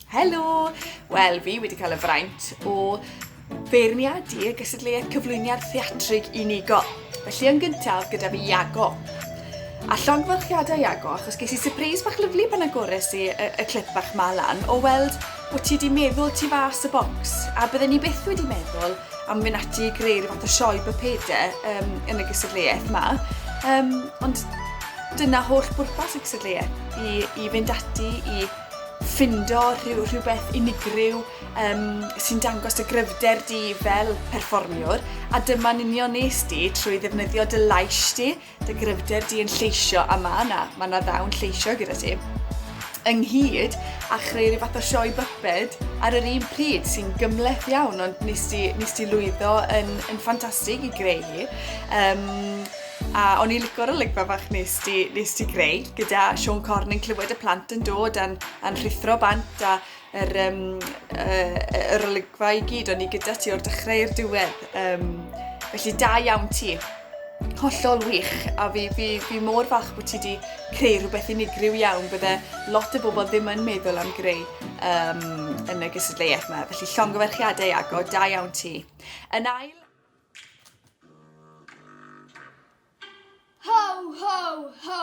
Helo! Wel, fi wedi cael y fraint o feirniadu y gysadleuaeth cyflwyniad theatrig unigol. Felly yn gyntaf gyda fi Iago. A llongfylchiadau Iago, achos ges i surprise bach lyflu pan agores i y, y clip bach ma lan o weld Bo ti 'di meddwl tu fas y bocs, a bydden ni byth wedi meddwl am mynd ati i greu rhyw fath o sioe bypede um, yn y gysadleuaeth yma. Um, ond dyna holl bwrpas y cysadleuaeth, i, i fynd ati i ffindo rhyw, rhywbeth unigryw um, sy'n dangos dy gryfder di fel perfformiwr a dyma'n union nes di trwy ddefnyddio dy lais di Dy gryfder di yn lleisio a ma' 'na, ma' 'na ddew'n lleisio gyda ti. Ynghyd a chreu rhyw fath o sioe byped ar yr un pryd sy'n gymleth iawn ond nes ti, nes ti lwyddo yn, yn ffantastig i greu hi. Um, a o'n i licor olygfa fach nes ti, nes ti greu gyda Sean Corn yn clywed y plant yn dod a'n, a'n rhithro bant a yr um, uh, yr olygfa i gyd, o'n i gyda ti o'r dechrau i'r diwedd. Um, felly da iawn ti. Hollol wych, a fi, fi, fi mor fach bod ti wedi creu rhywbeth unigryw iawn, bydde lot o bobl ddim yn meddwl am greu um, yn y gysadleuaeth yma. Felly llongyfarchiadau Iago, da iawn ti. Yn ail... Ho, ho, ho!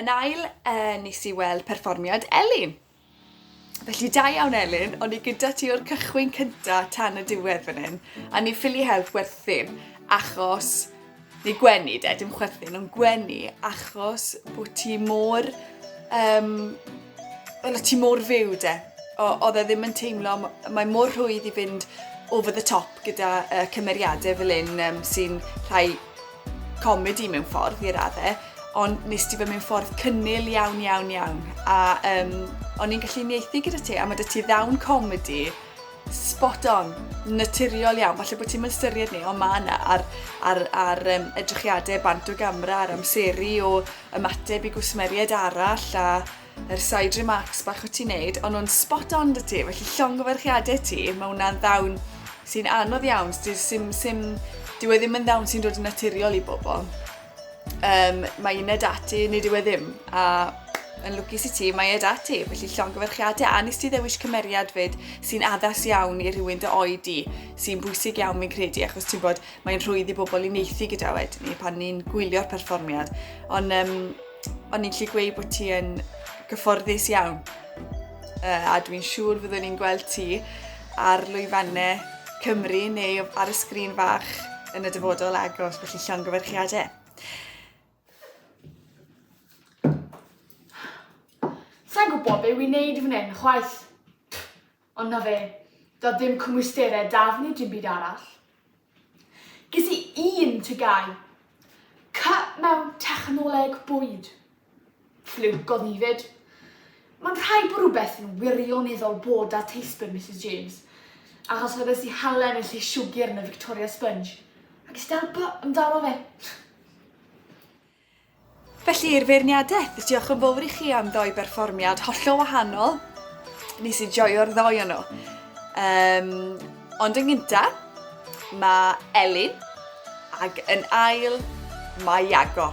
Yn ail, uh, nes i weld perfformiad Elin. Felly da iawn Elin, o'n i gyda ti o'r cychwyn cynta tan y diwedd fan hyn, a ni ffili help werthu, achos, ni gwenu de, dim chwerthu, nhw'n gwenu, achos bod ti mor, um, o ti mor fyw de, oedd e ddim yn teimlo, mae mor rhwydd i fynd over the top gyda uh, cymeriadau fel un um, sy'n rhai comedi mewn ffordd i radde, ond nes ti fe mewn ffordd cynnil iawn, iawn, iawn. A um, o'n i'n gallu unieithu gyda ti, a mae dy ti ddawn comedi spot on, naturiol iawn. Falle bod ti'n mystyried ni, ond mae yna ar, ar, ar um, edrychiadau bant o gamra, ar amseru o ymateb i gwsmeriaid arall, a Yr side remarks bach wyt ti'n neud, ond nhw'n spot on dy ti, felly llongyfarchiadau ti, mae hwnna'n ddawn sy'n anodd iawn, sy'n sim, sim, dyw e ddim yn ddawn sy'n dod yn naturiol i bobl. Um, mae uned ati, nid yw e ddim, a yn lwcus i ti, mae e dati, felly llongyfarchiadau, a nes ti ddewis cymeriad fyd sy'n addas iawn i rhywun dy oed i, sy'n bwysig iawn fi'n credu, achos ti'n bod, mae'n rhwydd i bobl i neithi gyda wedyn ni pan ni'n gwylio'r perfformiad. Ond um, O'n i'n gallu gweud bod ti yn gyfforddus iawn. Uh, a dwi'n siŵr fyddwn ni'n gweld ti ar lwyfannau Cymru neu ar y sgrin fach yn y dyfodol agos, felly llongyfarchiadau. Sa'n gwybod be wy'n neud fan hyn, chwaith. Ond 'na fe. Doedd dim cymwysterau 'da fi neu dim byd arall. Ges i un tygau. Cy mewn technoleg bwyd. Ffliwc oedd hi 'fyd. Mae'n rhaid bod rhywbeth yn wirioneddol bod 'da teisbyr Misus James, achos oedd e sy halen y lle siwgr yn y Victoria Sponge. Ac es i dal by amdano fe. Felly i'r feirniadaeth, diolch yn fawr i chi am ddoi berfformiad hollol wahanol. Nes i joio'r ddoi o nhw. Um, ond yn gynta, mae Elin, ac yn ail, mae Iago.